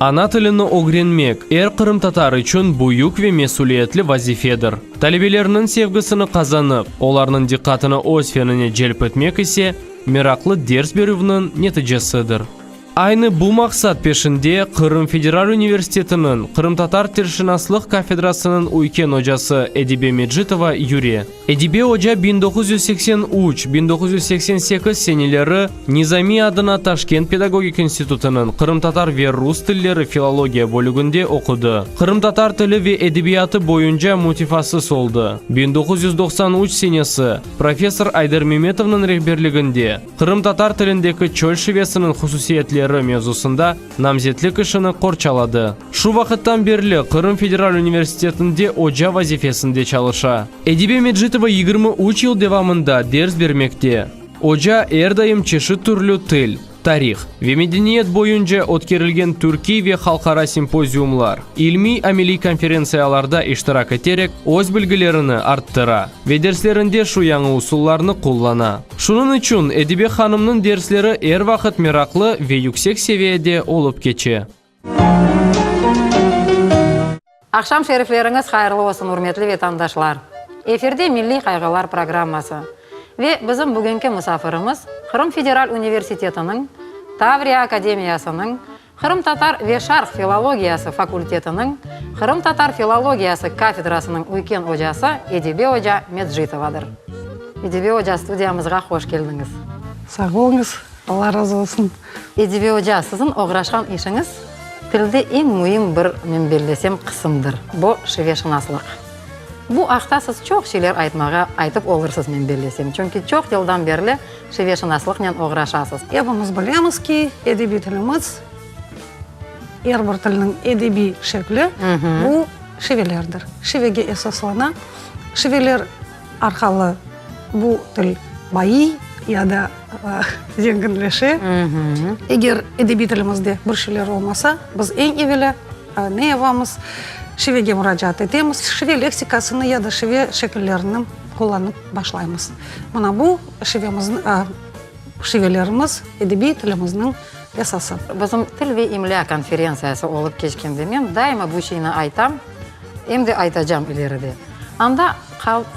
Ana tilini ögrenmek, er qırımtatar içün büyük ve mesüliyetli vazifedir. Talebelerniñ sevgisini qazanıp, olarnıñ diqqatını öz fenine celp etmek ise, meraqlı ders berüvniñ neticesidir. Aynı bu maqsat peşinde Qırım Federal Universitetiniñ qırımtatar tilşınaslıq kafedrasınıñ üyken ocası Edibe Mecitova yüre. Edibe oca biñ doquz yüz seksen üç, biñ doquz yüz seksen sekiz seneleri Nizamiy adına Taşkent pedagogik institutınıñ qırımtatar ve rus tilleri filologiya bölüginde oqudı. Qırımtatar tili ve edebiyatı boyunca mütefassıs oldı. Biñ doquz yüz doqsan üç senesi professor Ayder Memetovnıñ rehberliginde Qırımtatar tilindeki çöl şivesiniñ hususiyetleri mevzusında Namzetlik işini qorçaladı. Şu vaqıttan berli Qırım federal universitetinde oca vazifesinde çalışa. Edibe Medjitova yigirmi üç yıl devamında ders bermekte. Oca er daim çeşit türlü til, tarih ve medeniyet boyunca ötkerilgen türkiy ve halqara simpoziumlar, ilmiy-ameliy konferentsiyalarda iştirak eterek öz bilgilerini arttıra ve derslerinde şu yañı usullarnı qullana. Şunıñ içün Edibe hanımnıñ dersleri er vaqıt meraqlı ve yüksek seviyede olıp keçe. Aqşam şerifleriñiz hayırlı olsun, ürmetli vetandaşlar! Efirde Milliy qayğılar programması. Ve bizim bugünki musafirimiz Qırım federal universitetiniñ Tavriya akademiyasınıñ Qırımtatar ve şarq filologiyası fakultetiniñ qırımtatar filologiyası kafedrasınıñ üyken ocası Edibe oca Medjitovadır. Edibe oca, studiyamızğa hoş keldiñiz. Sağ oluñız, Alla razı olsun. Edibe oca, siziñ oğraşqan işiñiz tilde eñ müim bir, men bellesem, qısımdır, bu, şiveşınaslıq. Bu aqta siz çoq şeyler aytmağa, aytıp olursız, men bellesem, çünki çoq yıldan berli, Şiveşınaslıqnen oğraşasız. Epimiz bilemiz ki, edebiy tilimiz, er bir tilniñ edebiy şekli, bu şivelerdir. Şivege esaslana, şiveler arqalı bu til bayiy ya da zenginleşe. Eger edebiy tilimizde bir şeyler olmasa, biz eñ evelâ ne yapamız? Şivege muracaat etemiz, şive leksikasını ya da şive şekillerini qullanıp başlaymız. Mına bu, Şivelerimiz, edebiy tilimizniñ esası. Bizim Til ve imlâ konferentsiyası olıp keçkende men daima bu şeyni aytam, em de aytacam ileri de. Anda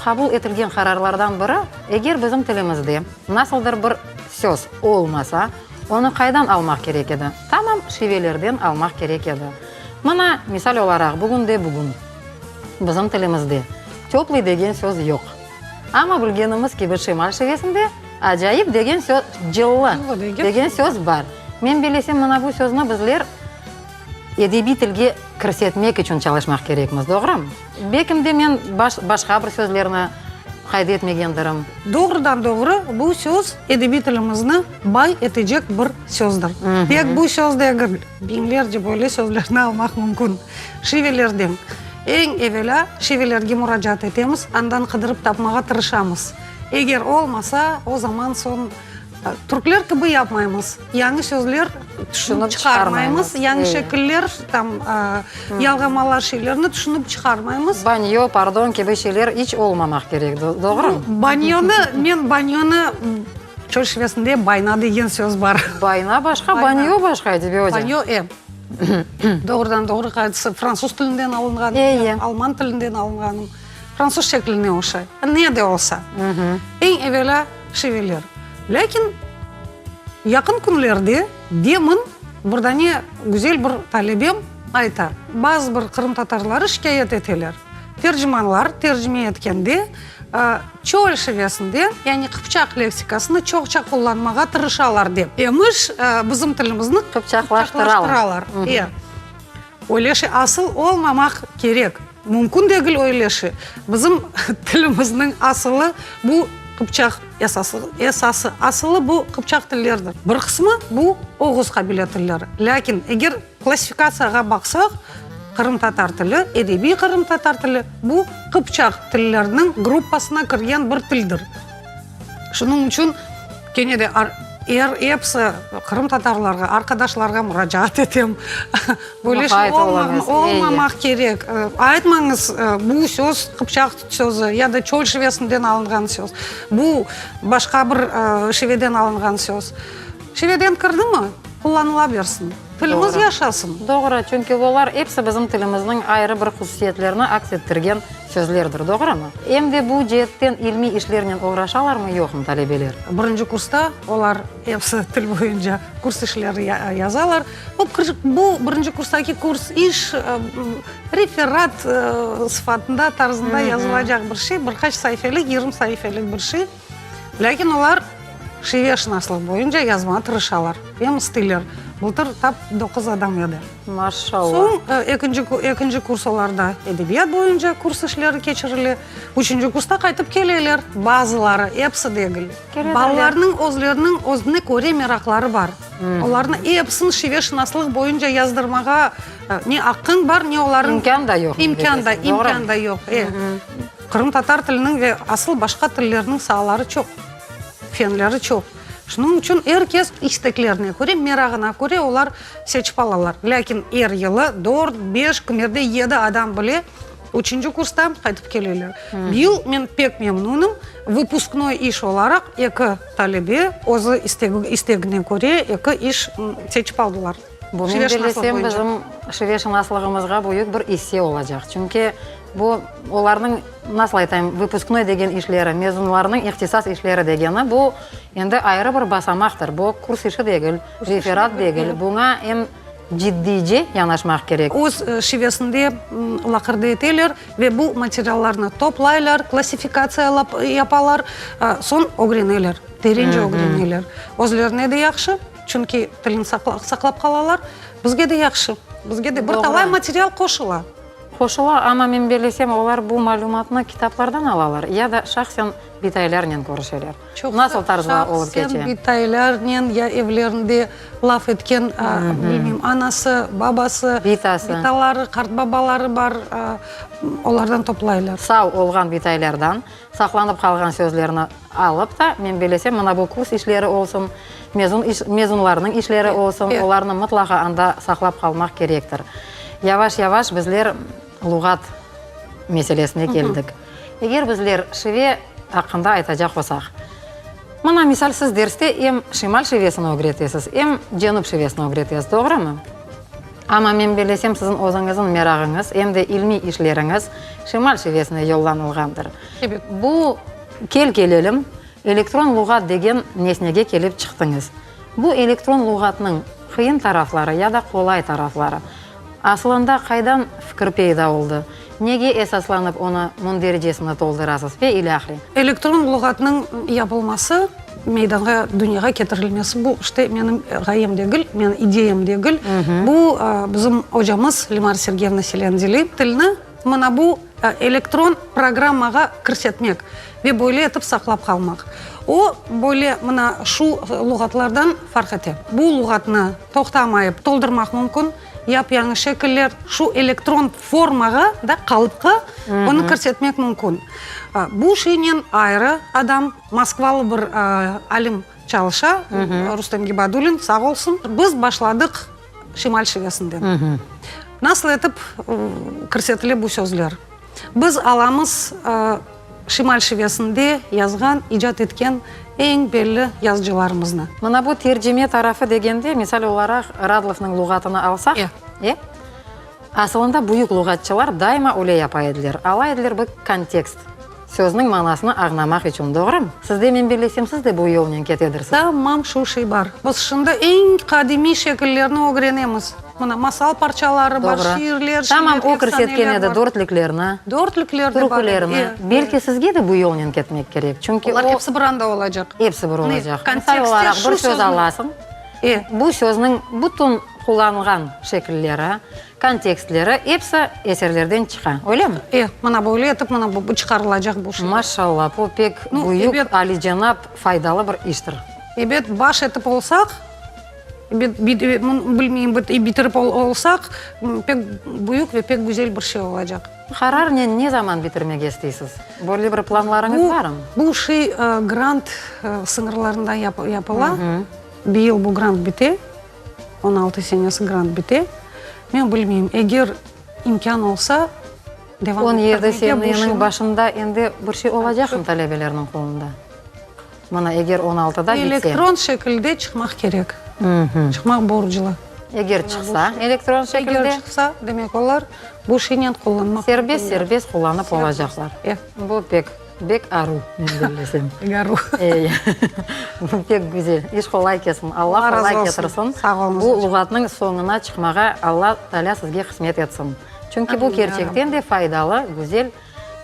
qabul etilgen qararlardan biri, eger bizim tilimizde nasıldır bir söz olmasa, onı qaydan almaq kerek edi? Tamam şivelerden almaq kerek edi. Mına, misal olaraq, bugün de bugün bizim tilimizde teplıy degen söz yoq. Amma bilgenimiz kibi Şimal şivesinde acayip degen söz, cıllı degen söz bar. Men bilesem, mına bu sözni bizler edebiy tilge kirsetmek içün çalışmaq kerekmiz, doğrumı? Belkim de men başqa bir sözlerni qayda etmegendirim. Doğrudan-doğru bu söz edebiy tilimizni bay etecek bir sözdür. Tek bu söz degil. Biñlerce böyle sözlerni almaq mümkün. Şivelerden. Eñ evelâ, şivelerge muracaat etemiz, andan qıdırıp tapmağa tırışamız. Eger olmasa, o zaman soñ, türkler kibi yapmaymız, yañı sözler tüşünip çıqarmaymız, yañı şekiller, tam, yalğamalar, şeylerni tüşünip çıqarmaymız. Banyo, pardon, kibi şeyler iç olmamaq kerek, doğrumı? Banyonı, men banyonı. Çöl şivesinde bayna degen söz bar. Bayna başqa, banyo başqa, edibi oca. Banyo, e. Doğrudan doğru qaytısı fransuz tilinden alınğan, alman tilinden alınğan, fransuz şekline oşay. Ne de olsa, eñ evelâ şiveler. Lâkin yaqın künlerde demin birdane güzel bir talebem ayta, bazı bir qırımtatarları şikâyet eteler, tercimanlar tercime etkende, Çeolşevesinde, yani qıpçaq leksikasını çoqça qullanmağa tırışalar dep, emiş bizim tilimizni qıpçaqlaştıralar. E, öyle şey asıl olmamaq kerek, mümkün degil öyle şey. Bizim tilimizniñ asılı bu qıpçaq, esası asılı bu qıpçaq tillerdir. Bir qısmı bu oğuz qabile tilleri. Lâkin eger Klassifikatsiyağa baqsaq, qırımtatar tili, edebiy qırımtatar tili, bu, qıpçaq tilleriniñ gruppasına kirgen bir tildir. Şunıñ içün, kene de er episi qırımtatarlarğa, arqadaşlarğa muracaat etem, böyle şey olmamaq kerek, aytmañız, bu söz qıpçaq sözü ya da çöl şivesinden alınğan söz, bu, başqa bir şiveden alınğan söz. Çileden kırdımı? Qullanıla bersin. Tilimiz yaşasın! Doğru, çünki olar episi bizim tilimizniñ ayrı bir hususiyetlerini aks ettirgen sözlerdir, doğrumı? Em de bu ceetten ilmiy işlernen oğraşalarmı, yoqmı talebeler? Birinci kursta olar episi til boyunca kurs işleri yazalar. Bu, bu birinci kurstaki kurs iş, referat sıfatında, tarzında yazılacaq bir şey, bir qaç saifeli, yirmi saifeli bir şey. Lâkin olar şiveşınaslıq boyunca yazmağa tırışalar, em isteler. Bıltır tap doquz adam edi. Maşallah! Soñ ekinci kurs olarda edebiyat boyunca kurs işleri keçirile, üçünci kursta qaytıp keleler, bazıları, episi degil. Balalarnıñ özleriniñ özüne köre meraqları bar. Olarnı episini şiveşınaslıq boyunca yazdırmağa ne aqqıñ bar, ne olarnıñ... İmkân da yoq. İmkân da yoq. Qırımtatar tiliniñ ve asıl başqa tillerniñ saaları çoq, fenleri çoq. Şunıñ içün er kes isteklerine köre, merağına köre olar seçip alalar. Lâkin er yılı dört, beş, kimerde yedi adam bile üçünci kurstan qaytıp keleler. Bu yıl men pek memnunım, vıpusknoy iş olaraq eki talebe özü istegine köre eki iş seçip aldılar. Şive şınaslıq boyunca. Şive şınaslığımızğa büyük bir isse olacaq. Çünki bu olarnıñ, nasıl aytayım, vıpısknoy degen işleri, mezunlarnıñ ihtisas işleri degeni, bu endi ayrı bir basamaqtır. Bu kurs işi degil, referat degil, buña em ciddice yanaşmaq kerek. Öz şivesinde laqırdı eteler ve bu materiallarnı toplaylar, klassifikatsiyalap yapalar, soñ ögreneler, terence ögreneler. Özlerine de yahşı. Çünki tilin saqlap qalalar, bizge de yahşı, bizge de bir talay material qoşula. Qoşula, amma men bellesem, olar bu malümatnı kitaplardan alalar ya da şahsen bitaylarnen körüşeler? Nasıl tarzda olıp keçe? Şahsen bitaylarnen ya evlerinde laf etken, bilmeyim, anası, babası, bitaları, qartbabaları bar, olardan toplaylar. Sağ olğan bitaylardan, Saqlanıp qalğan sözlerni alıp ta, men belesem, mına bu kurs işleri olsun, mezun iş, mezunlarnıñ işleri olsun, olarnı mıtlaqa anda saqlap qalmaq kerektir. Yavaş-yavaş bizler luğat meselesine keldik. Eger bizler şive aqqında aytacaq olsaq, mına, misal, siz derste em şimal şivesini ögretesiz, em cenüp şivesini ögretesiz, doğrumı? Amma men bilesem, siziñ özüñizin merağıñız, em de ilmiy işleriñiz şimal şivesine yollanılğandır. Bu, kel kelelim, elektron luğat degen nesnege kelip çıqtıñız. Bu elektron luğatnıñ qıyın tarafları ya da qolay tarafları, asılında qaydan fikir peyda oldı? Nege esaslanıp onı mündericesini toldurasız ve ilâhre. Elektron luğatnıñ yapılması, meydanğa, dünyağa ketirilmesi bu işte menim ğayem degil, menim ideyam degil. Bu bizim ocamız Limar Sergeyevna Seleandeli tilni mına bu elektron programmağa kirsetmek ve böyle etip saqlap qalmaq. O böyle mına şu luğatlardan farq ete. Bu luğatnı toqtamayıp toldurmaq mümkün. Yap-yañı şekiller şu elektron formağa da qalıpqa onı kirsetmek mümkün. Bu şeynen ayrı adam, moskvalı bir alim çalışa, Rustem Gibadulin, sağ olsun. Biz başladıq Şimal şivesinden. Nasıl etip kirsetile bu sözler? Biz alamız şimal şivesinde yazğan, icat etken eñ belli yazıcılarımıznı. Mına bu tercime tarafı degende, misal olaraq, Radlovnıñ luğatını alsaq, e? Asılında büyük luğatçılar daima öyle yapa ediler, ala ediler bir kontekst, sözniñ manasını añlamaq içün, doğrumı? Sizde, men bellesem, siz de bu yolnen ketedirsiz. Tamam, şu şey bar. Biz şimdi eñ qadimiy şekillerni ögrenemiz. Mına, masal parçaları bar, şiirler, şiirler, eftsaneler bar. Tamam, o kirsetken edi dörtlüklerni, türkülerni. Belki sizge de bu yolnen ketmek kerek, çünki o. Olar epsi bir anda olacaq. Epsi bir olacaq. Misal olaraq bir söz alasıñ, bu sözniñ bütün qullanılğan şekilleri, kontekstleri, epsi eserlerden çıqa, öylemi? E, mına böyle etip, mına bu çıqarılacaq. Maşallah, bu pek büyük, alicenap, faydalı bir iştir. Ebet, baş etip olsaq. Bilmeyim, bitirip olsaq, pek büyük ve pek güzel bir şey olacaq. Qararnen ne zaman bitirmege isteysiz? Böyle bir planlarıñız barmı? Bu şey grant sıñırlarında yapıla. Bir yıl bu grant bite, on altı senesi grant bite. Men bilmeyim, eger imkân olsa, devam ettirmege. On yedi seneniñ başında endi bir şey olacaqmı talebelerniñ qolunda? Mana, eger on altıda bitse. Elektron şekilde çıqmaq kerek. Çıqmaq borclu. Eger çıqsa elektron şekilde. Eger çıqsa, demek olar bu şeynen qullanmaq. Serbest, serbest qullanıp olacaqlar. Bu pek, bek aru, men bellesem. Bek aru. Bu pek güzel. İş qolay ketsin. Alla qolay ketirsin. Sağ olunız. Bu luğatnıñ soñuna çıqmağa Alla Taalâ sizge qısmet etsin. Çünki bu kerçekten de faydalı, güzel,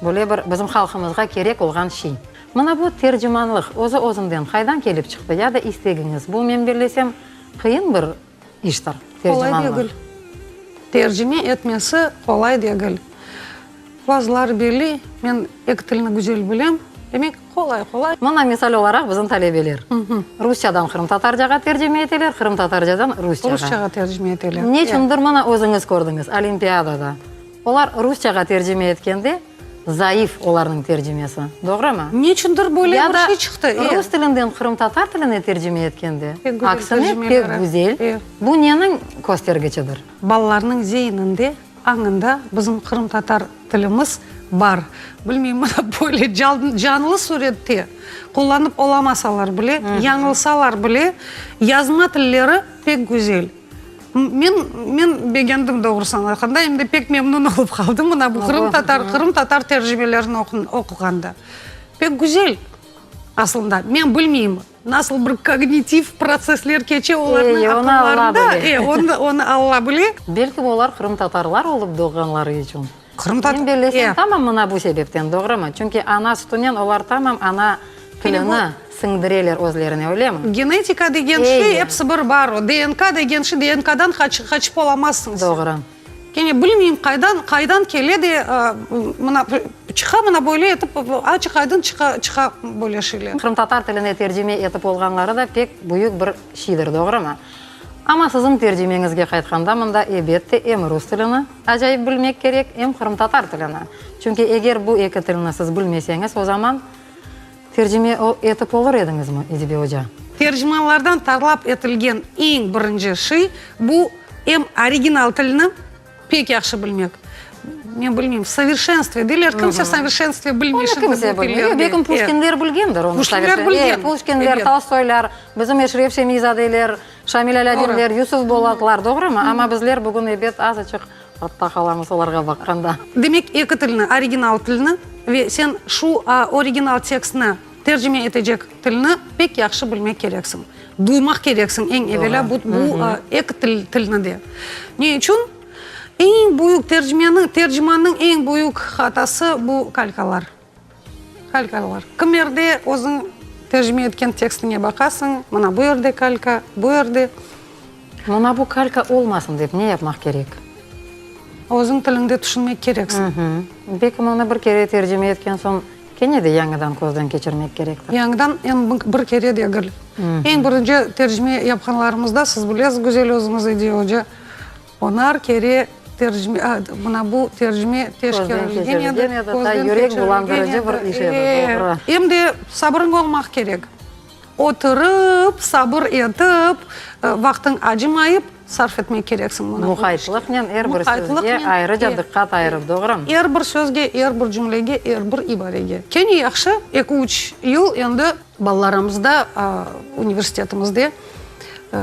böyle bir bizim halqımızğa kerek olğan şey. Mına bu tercimanlıq özü-özünden qaydan kelip çıqtı ya da istegiñiz bu? Men bellesem, qıyın bir iştir tercimanlıq. Qolay degil. Tercime etmesi qolay degil. Bazıları belli, men eki tilni güzel bilem, demek, qolay, qolay. Mına misal olaraq bizim talebeler. Rusçadan qırımtatarcağa tercime eteler, qırımtatarcadan rusçağa. Rusçağa tercime eteler. Neçündir mına özüñiz kördiñiz, olimpiadada. Olar rusçağa tercime etkende zayıf olarnıñ tercimesi, doğrumı? Neçündir böyle bir şey çıqtı, e. Ya da rus tilinden qırımtatar tiline tercime etkende, aksine pek güzel, bu neniñ köstergiçidir? Balalarnıñ zeyninde, añında bizim qırımtatar tilimiz bar. Bilmeyim, mına böyle canlı sürette qullanıp olamasalar bile, yañılsalar bile, yazma tilleri pek güzel. Men, men begendim doğrusı anlatqanda, em de pek memnün olıp qaldım mına bu qırım tatar, qırım tatar tercimelerini oquğanda. Pek güzel aslında, men bilmeyim, nasıl bir kognitiv protsessler keçe olarnıñ aqıllarında, e, onı Alla bile. Belki olar qırımtatarlar olıp doğğanları içün. Qırımda Sen bilesen tamam mına bu sebepten, doğrumı? Çünki ana sütünen olar tamam ana tilini siñdireler özlerine, öylemi? Genetika degen şey episi bir bar o. DNK degen şey, DNKdan qaçıp olamazsıñ sen. Doğru. Kene bilmeyim qaydan, qaydan kele de mına çıqa mına böyle etip açıq aydın çıqa, çıqa böyle şeyler. Qırımtatar tiline tercime etip olğanları da pek büyük bir şeydir, doğrumı? Amma siziñ tercimeñizge qaytqanda mında ebette em rus tilini, Acayip bilmek kerek em qırımtatar tilini. Çünki eger bu eki tilni siz bilmeseñiz, o zaman tercime etip olur ediñizmi, İdibi oca? Tercimalardan talap etilgen eñ birinci şey, bu em original tilni pek yahşı bilmek. Men bilmeyim, v soverşenstve deyler, kimse v soverşenstve bilmey şimdi bu tillerni. Onu kimse bilmey. Yo, belkim puşkinler bilgendir onu. Puşkinler bilgen. Puşkinler, Tolstoylar, bizim Eşref Şemizadeler. Şamil Alâdinler, Yusuf Bolaklar, doğrumı? Amma bizler bugün ebet azıçıq artta qalamız olarğa baqqanda. Demek, eki tilni, original tilni ve sen şu original tekstni tercime etecek tilni pek yahşı bilmek kereksiñ, duymaq kereksiñ eñ evelâ bu eki tilni de. Ne içün? Eñ büyük tercimeniñ, tercimannıñ eñ büyük hatası bu kalkalar. Kalkalar. Kim yerde özüñ tercime etken tekstiñe baqasıñ, mına bu yerde kalka, bu yerde. Mına bu kalka olmasın dep ne yapmaq kerek? Özüñ tiliñde tüşünmek kereksiñ. Belki mına bir kere tercime etken soñ kene de yañıdan közden keçirmek kerektir. Yañıdan em bir kere degil. Eñ birinci tercime yapqanlarımızda, siz bilesiz, Güzel, özüñiz, Ediye oca, Onar kere tercime, a, mına bu tercime teşkerlgeniyede, közden keçirlgeniyede, e, em de sabırıñ olmaq kerek. Oturıp, sabır etip, vaqtıñ acımayıp sarf etmek kereksiñ mına. Muqaytlıqnen er bir sözge ayrıca diqqat ayırıp, doğrumı? Er bir sözge, er bir cümlege, er bir ibarege. Kene yahşı, eki-üç yıl endi balalarımızda universitetimizde, e,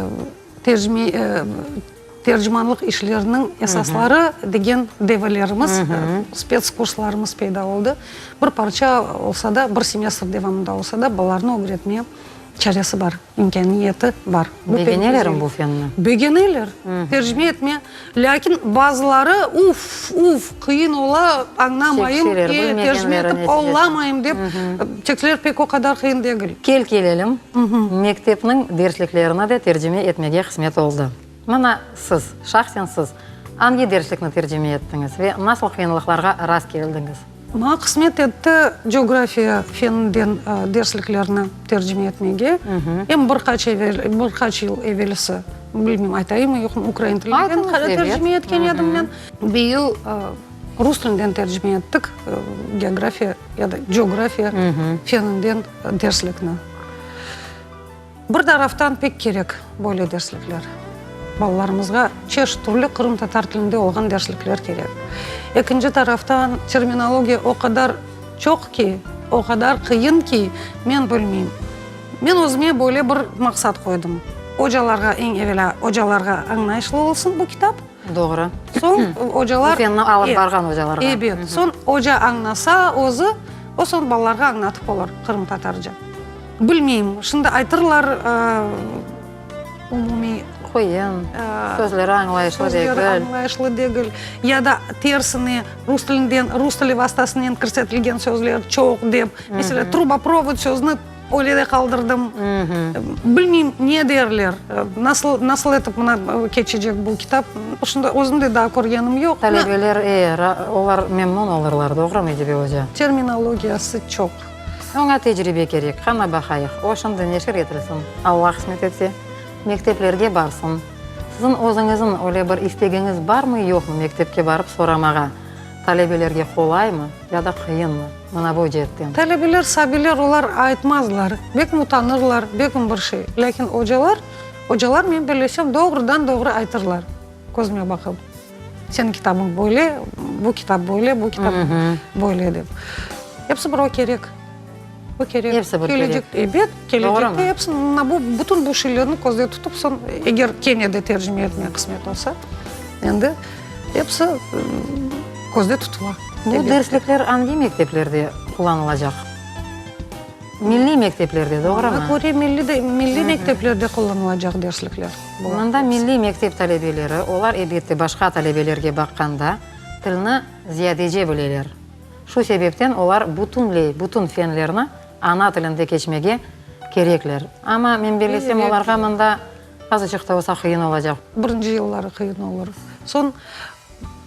Tercimanlıq işleriniñ esasları degen devalerimiz, spets kurslarımız peyda oldı. Bir parça olsa da, bir semestr devamında olsa da balalarnı ögretme çaresi bar, imkâniyeti bar. Begenelermi bu fenni? Begeneler, tercime etme. Lâkin bazıları, Uf, uf, qıyın ola, añlamayım, e, tercime etip olamayım, dep, tekstler pek o qadar qıyın degil. Kel kelelim, mektepniñ dersliklerine de tercime etmege qısmet oldı. Mına, siz, şahsen siz, angi derslikni tercime ettiñiz ve nasıl qıyınlıqlarğa rast keldiñiz? Maña qısmet etti coğrafiya feninden dersliklerni tercime etmege. Em bir qaç evel, bir qaç yıl evelsi, bilmeyim, aytayımı, yoqmı, ukrain tilinden hali tercime etken edim men. Bir yıl rus tilinden tercime ettik geografiya ya da coğrafiya feninden derslikni. Bir taraftan pek kerek böyle derslikler. Balalarımızğa çeşit türlü qırımtatar tilinde olğan derslikler kerek. Ekinci taraftan terminologiya o qadar çoq ki, o qadar qıyın ki, men bilmeyim. Men özüme böyle bir maqsat qoydım, ocalarğa, eñ evelâ ocalarğa añlayışlı olsun bu kitap. Doğru. Soñ ocalar. Tüfeñni alıp barğan ocalarğa. Ebet. Soñ oca añlasa özü, o soñ balalarğa añlatıp olar qırımtatarca. Bilmeyim, şimdi aytırlar, umumiy. Qoyun, sözleri añlayışlı degil. Sözleri añlayışlı degil. Ya da tersine, rus tilinden, rus tili vastasınen kirsetilgen sözler çoq dep. Mesela, truboprovod sözüni. Öyle de qaldırdım. Bilmeyim, ne derler, nasıl, nasıl etip mına keçecek bu kitap. Şunday, özüm de daa körgenim yoq. Talebeler, e, ra, olar memnun olurlar, doğrumı, Edibe oca? Terminologiyası çoq. Oña tecribe kerek, qana baqayıq. O, şimdi neşir etilsin, Alla qısmet etse, mekteplerge barsın. Siziñ özüñiziñ öyle bir istegiñiz barmı, yoqmı mektepke barıp soramağa? Talebelerge qolaymı ya da qıyınmı, mına bu ceetten? Talebeler sabiler, olar aytmazlar, bek mutanırlar, begim bir şey. Lâkin ocalar, ocalar, men bellesem, doğrudan-doğru aytırlar, közüme baqıp, seniñ kitabıñ böyle, bu kitap böyle, bu kitap böyle dep. Episi birov kerek. Bu kerek. Hepsi bir kerek. Kelecek, ebet, kelecekte hepsi, mına bu, bütün bu şeylerni közde tutıp, soñ, eger kene de tercime etmek qısmet olsa, endi hepsi közde tutula. Bu derslikler angi mekteplerde qullanılacaq? Milliy mekteplerde, doğrumı? Maña köre, milliy de, milliy mekteplerde qullanılacaq derslikler. Mında milliy mektep talebeleri, olar, ebette, başqa talebelerge baqqanda, tilni ziyadece bileler. Şu sebepten olar bütünley bütün fenlerni ana tilinde keçmege kerekler. Amma men bellesem, olarğa mında azıcıq da olsa qıyın olacaq. Birinci yılları qıyın olur. Soñ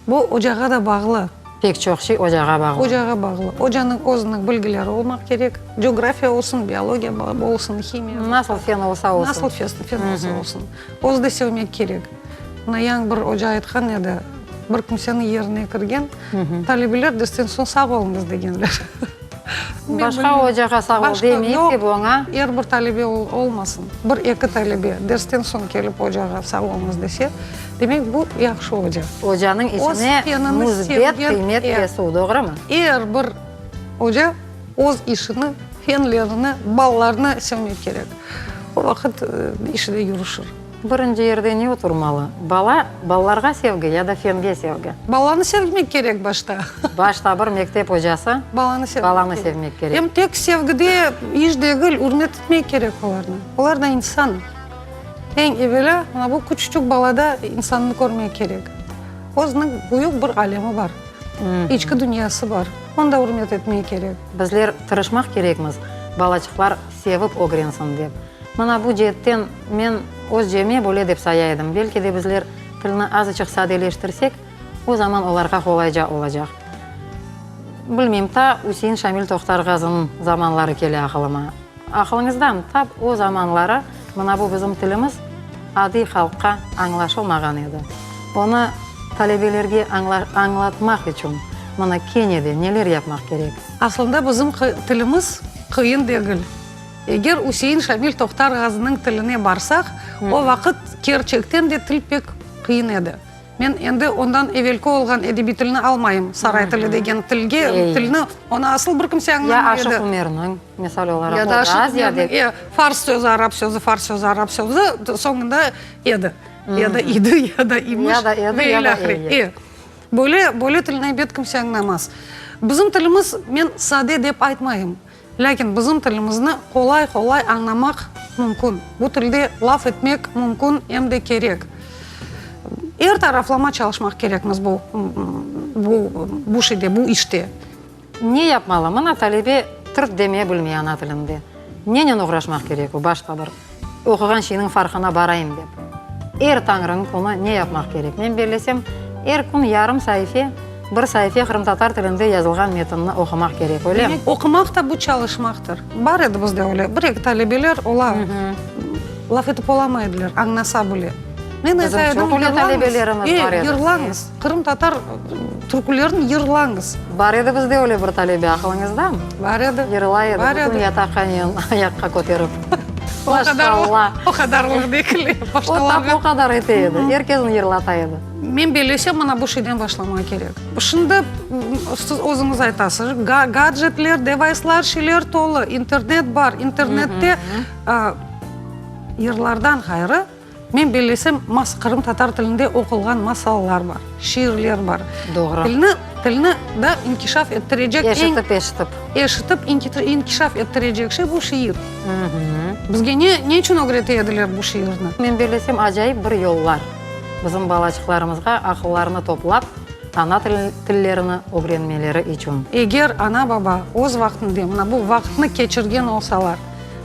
bu ocağa da bağlı. Pek çoq şey ocağa bağlı. Ocağa bağlı. Ocanıñ özüniñ bilgileri olmaq kerek. Coğrafiya olsun, biologiya olsun, himiya. Nasıl fen olsa olsun. Nasıl fen olsa olsun. Özü de sevmek kerek. Nayan bir oca aytqan edi, bir kimseniñ yerine kirgen talebeler dersten soñ sağ oluñız degenler. Başqa ocağa sağ ol demeyip dep oña. Er bir talebe olmasın, bir eki talebe dersten soñ kelip ocağa sağ oluñız dese, demek bu yahşı oca. Ocanıñ işine müsbet qıymet kesiu, doğrumı? Er bir oca. Öz işini, fenlerini, ballarını sevmek kerek. O vaqıt işi de yürüşir. Birinci yerde ne oturmalı? Bala, ballarğa sevgi ya da fenge sevgi? Balanı sevmek kerek başta. Başta bir mektep ocası balanı sevmek kerek. Em tek sevgide iş degil, ürmet etmek kerek olarnı. Olar da insan. Eñ evelâ bu küçücük balada insannı körmek kerek. Özüniñ büyük bir alemi bar. İçki dünyası bar, onı da ürmet etmek kerek. Bizler tırışmaq kerekmiz, balaçıqlar sevip ögrensin dep. Mına bu ceetten men özceme böyle dep saya edim, belki de bizler tilni azıçıq sadeleştirsek, o zaman olarğa qolayca olacaq. Bilmeyim, ta Üsein Şamil Tohtarğazınıñ zamanları kele aqılıma. Aqılıñızdan tap, o zamanları mına bu bizim tilimiz adiy halqqa añlaşılmağan edi. Onı talebelerge añlatmaq içün mına kene de neler yapmaq kerek? Aslında bizim tilimiz qıyın degil. Eger Üsein Şamil Tohtar Ğaziniñ tiline barsaq, o vaqıt kerçekten de til pek qıyın edi. Men endi ondan evelki olğan edebiy tilni almayım, saray tili degen tilge, tilni, onı asıl bir kimse añlamay edi. Ya Aşıq Umerniñ, misal olaraq, Ya da Aşıq Umerniñ, e, fars sözü, arap sözü, fars sözü, arap sözü, soñunda edi, ya da idi, ya da imiş. Ya da edi, ya da edi. E, böyle, böyle tilni, ebet, kimse añlamaz. Bizim tilimiz, men sade dep aytmayım. Lâkin bizim tilimizni qolay-qolay añlamaq mümkün. Bu tilde laf etmek mümkün, em de kerek. Er taraflama çalışmaq kerekmiz bu bu şeyde, bu işte. Ne yapmalı? Mına talebe tırt demeye bilmey ana tilinde. Nenen oğraşmaq kerek o? Başqa bir Oquğan şeyniñ farqına barayım dep, er tañrınıñ künü ne yapmaq kerek? Men bellesem, er kün yarım saife, bir saife qırımtatar tilinde yazılğan metinni oqumaq kerek, öylem? Oqumaq da bu çalışmaqtır. Bar edi bizde öyle bir-eki talebeler, olar laf etip olamay ediler, añlasa bile. Men ayta edim, yırlañız, yırlañız. Qırımtatar türkülerini yırlañız. Bar edi bizde öyle bir talebe, aqılıñızda? Bar edi. Yırlay edi. Bar edi. Bütün yataqhanen ayaqqa köterip. Maşallah. O qadarlıq degil. Başqalarğa. O qadar ete edi. Er kesni yırlata edi. Men bellesem, mına bu şeyden başlamaq kerek. Şimdi siz özüñiz aytasız, gadjetler, devayslar, şeyler tolı, internet bar. İnternette yırlardan ğayrı, Men bellesem, masa, qırımtatar tilinde oqulğan masallar bar, şiirler bar. Doğru. Tilni, tilni da inkişaf ettirecek eñ. Eşitip, eşitip. Eşitip, inkişaf ettirecek şey bu şiir. Bizge ne, ne içün ögrete ediler bu şiirni? Men bellesem, acayip bir yollar, bizim balaçıqlarımızğa aqıllarını toplap, ana tilin, tillerini ögrenmeleri içün. Eger ana-baba öz vaqtında, mına bu vaqıtnı keçirgen olsalar,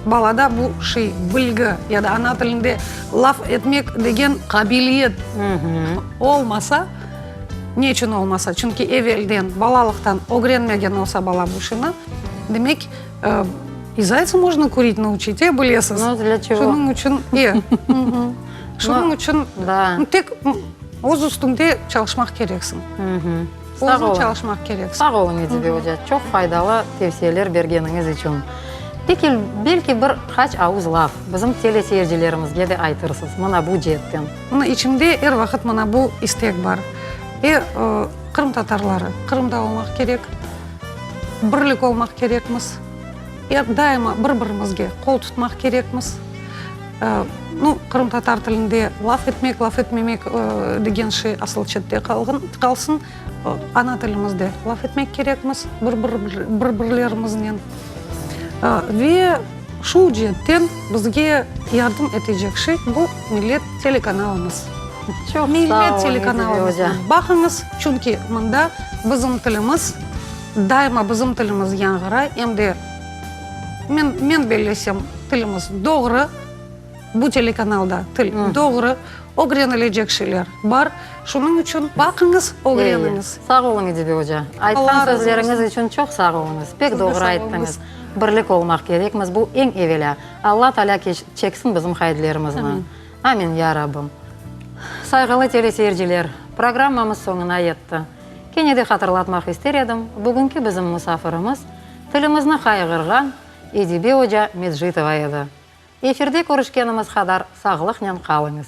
Balada bu şey, bilgi ya da ana tilinde laf etmek degen qabiliyet olmasa, ne içün olmasa, çünki evelden, balalıqtan ögrenmegen olsa bala bu şeyni, demek, i zaytsı možno kurit nauçit, e, bilesiz. No dla çego? Şunıñ içün, e. Şunıñ içün tek öz üstüñde çalışmaq kereksiñ. Sağ olun. çalışmaq kerek. Sağ olun, Edibe oca, çoq faydalı tevsiyeler bergeniñiz içün. Peki, belki bir qaç avuz laf bizim teleseyircilerimizge de aytırsız, mına bu ceetten? Mına içimde er vaqıt mına bu istek bar. Er, qırımtatarları, Qırımda olmaq kerek, birlik olmaq kerekmiz. Er daima bir-birimizge qol tutmaq kerekmiz. Nu, qırımtatar tilinde laf etmek, laf etmemek degen şey asıl çette qalsın. Ana tilimizde laf etmek kerekmiz bir-birlerimiznen. Ve şu ceetten bizge yardım etecek şey, bu Millet telekanalımız. Millet telekanalımıza baqıñız, çünki mında bizim tilimiz. Daima bizim tilimiz yanğıra, em de men, men bellesem, tilimiz doğru, bu telekanalda til doğru, ögrenilecek şeyler bar, şunıñ içün baqıñız, ögreniñiz. Ey, sağ oluñ, İdibe oca, aytqan sözleriñiz içün çoq sağ oluñız, pek doğru ayttıñız, birlik olmaq kerekmiz, bu eñ evelâ, Alla Taalâ çeksin bizim qaydlerimizni, amin, ya Rabbim! Sayğılı teleseyirciler, programmamız soñuna yetti. Kene de hatırlatmaq ister edim, bugünki bizim musafirimiz tilimizni qayğırğan Edibe oca Medjitova edi. Efirde körüşkenimiz qadar sağlıqnen qalıñız!